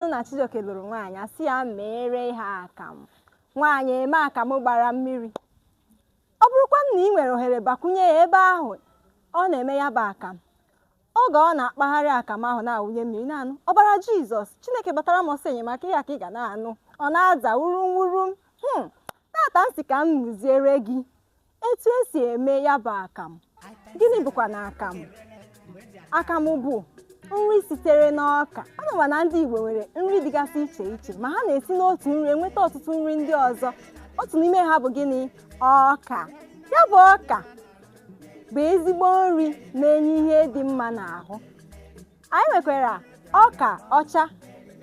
bụrụ na Chijioke lụrụ nwaanyị asị ya meere ha akamụ nwaanyị eme akamụ gbara mmiri ọ bụrụkwanụ na ị nwere ohere bakwunye ya ebe ahụ ọ na-eme ya bụ akam oge ọ na-akpagharị akam ahụ na-awụnye mmiri naanị ọbara Jizọs Chineke gbatara m ọsọ enyemaka ya ka ị ga na-anụ ọ na-aza wurum wurum hmm tata m sị ka m mụziere gị etu esi eme ya bụ akamụ gịnị bụkwanụ akamụ akamụ bụ nri sitere n'ọka anyị ma na ndị Igbo nwere nri dịgasị iche iche ma ha na-esi n'otu nri enweta ọtụtụ nri ndị ọzọ otu n'ime ha bụ gịnị ọka ya bụ ọka bụ ezigbo nri na-enye ihe dị mma n'ahụ anyị nwekwara ọka ọcha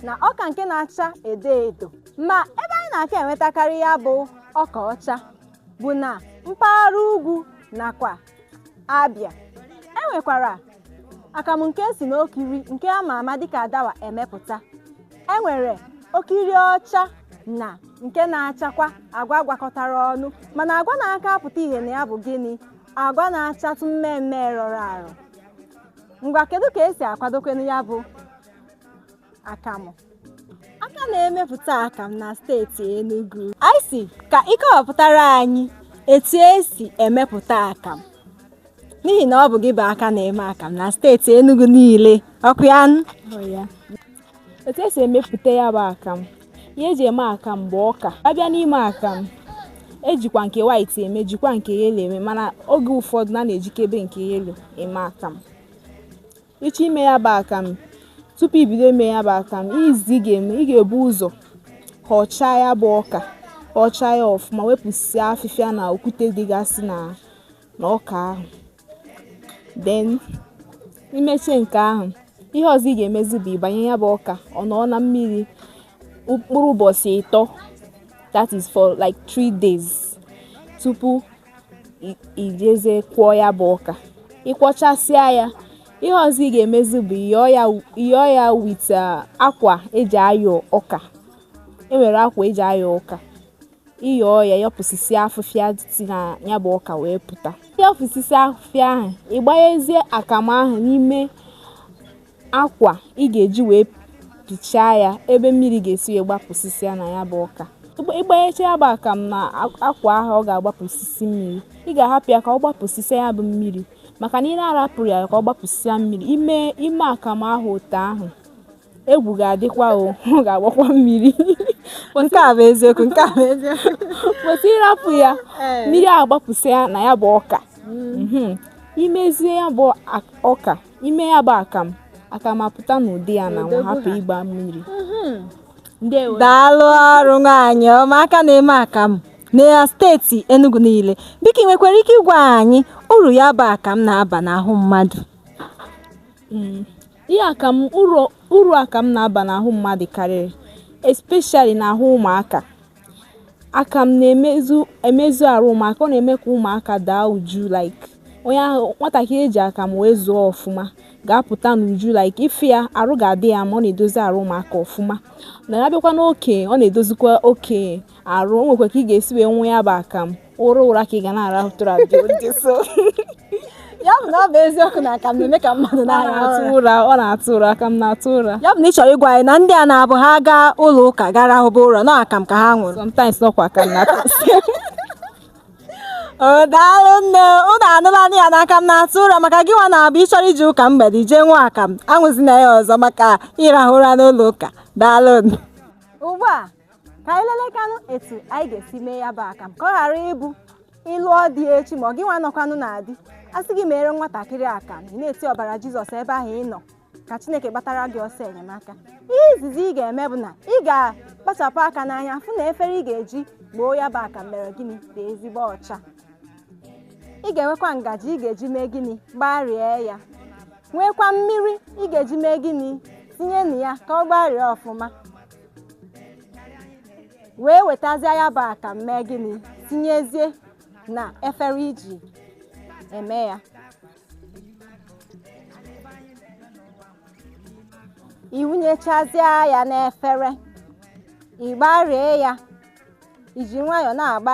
na ọka nke na-acha edo edo ma ebe anyị na-aka enwetakarị ya bụ ọka ọcha bụ na mpaghara ugwu nakwa Abịa e nwekwara akamụ nke esi n'okiri nke a ma ama dịka adawa emepụta e nwere okiri ọcha na nke na-achakwa agwa gwakọtara ọnụ mana agwa na-aka apụta ihe na ya bụ gịnị agwa na-achatụ mmee mmee rọrọ arọ ngwa kedu ka esi akwadokwenụ ya bụ akamụ aka na-emepụta akamụ na steeti Enugu anyị sị ka ị kọwapụtara anyị etu esi emepụta akamụ n'ihi na ọ bụ gị bụ aka na-eme akamụ na steeti Enugu niile ọ kwa ya nụ? etu esi emepụta ya bụ akam ihe eji eme akam bụ ọka a bịa n'ime akam ejikwa nke white eme jikwa nke yellow eme mana oge ụfọdụ na a na-ejikebe nke yellow eme akam ị chọọ ime ya bụ akam tupu i bido ime ya bụ akam izizi ị ga-eme ị ga-ebu ụzọ họchaa ya bụ ọka họchaa ya ọfụma wepụsịa afịfịa na okwute dịgasị na ọka ahụ then i meche nke ahụ ihe ọzọ ị ga-emezi bụ ịbanye ya bụ ọka ọ nọọ na mmiri mkpụrụ ụbọchị ịtọ that is for like three days tupu i jeze kwọọ ya bụ ọka ị kwọchasịa ya ihe ọzọ ị ga-emezi bụ ị yọọ ya with uh, akwa eji ayọ ọka e nwere akwa eji ayọ ọka ị yọọ ya yọpụsịsịa afụfịa dị na ya bụ ọka wee pụta yọpụsịsị afụfịa ahụ ị gbanyezie akamụ ahụ n'ime akwa ị ga-eji wee pichaa ya ebe mmiri ga-esi wee gbapụsịsịa na ya bụ ọka ị gbanyecha ya bụ akamụ na akwa ahụ ọ ga-agbapụsịsị mmiri ị ga-ahapụ ya ka ọ gbapụsịsịa ya bụ mmiri maka na ị na-arapụrọ ya ka ọ gbapụsịsịa mmiri i mee akamụ ahụ otu ahụ egwu ga-adịkwa o ọ ga-agbakwa mmiri nke a bụ eziokwu nke a bụ eziokwu kwesị ịrapụ ya mmiri agbapụsịa na ya bụ ọka Mhm. imezie ya bụ ak- ọka ime ya bụ akamụ akamụ apụta n'ụdị ya na nwa hapụ ịgba mmiri ndewo daalụ ọrụ nwaanyị ọma aka na-eme akamụ na steeti Enugu niile biko ị nwekwara ike ịgwa anyị uru ya bụ akamụ na-aba n'ahụ mmadụ Mm. Ihe akamụ uru uru akamụ na-aba n'ahụ mmadụ karịrị especially n'ahụ ụmụaka. Akamụ na-emezu emezu arụ ụmụaka, ọ na-eme ka ụmụaka daa uju like onye ahụ nwatakịrị eji akamụ wee zụọ ọfụma ga-apụta n'uju like ịfụ ya arụ ga-adị ya mma ọ na-edozi arụ ụmụaka ọfụma. Na ya bịakwa n'okenye, ọ na-edozikwa okenye arụ. O nwekwa ka ị ga-esi wee ṅụọ ya bụ akamụ. ụra ụra ka ị ga na-arahụ tụrụ abịa ụdị so ya bụ na ọ bụ eziokwu na akamụ na-eme ka mmadụ ọ na-arahụ na-atụ ụra ụra ọ na-atụ ụra akamụ na-atụ ụra ya bụ na ị chọrọ ịgwa anyị na ndị a na-abụ ha gaa ụlọ ụka ha arahụba ụra na akamụ ka ha ṅụrụ sometimes ọkwa akamụ na-atụ o daalụ nne ụnụ anụlanụ ya na akamụ na-atụ ụra maka gị nwa na-abụ ị chọrọ ije ụka mgbede jee ṅụọ akamụ aṅụzina ya ọzọ maka ịrahụ ụra n'ụlọ ụka daalụ nụ. ugbu a ka anyị lelekanụ etu anyị ga-esi mee ya bụ akamụ ka ọ ghara ịbụ ị lụọ di echi ma ọ gị nwa nọkwanụ na di a sị gị mere nwatakịrị akamụ ị na-eti ọbara jizọs ebe ahụ ị nọ ka chineke gbatara gị ọsọ enyemaka ihe izizi ị ga-eme bụ na ị ga-akpachapụ aka n'anya fụ na efere ị ga-eji gboo ya bụ akamụ mere gịnị dị ezigbo ọcha ị ga-enwekwa ngaji ị ga-eji mee gịnị gbarie ya nwekwa mmiri ị ga-eji mee gịnị tinye na ya ka ọ gbarie ọfụma wee wetazie ya bụ akamụ mee gịnị tinyezie na efere iji eme ya iwunyechazie ya n'efere ị gbarie ya iji nwayọọ na-agba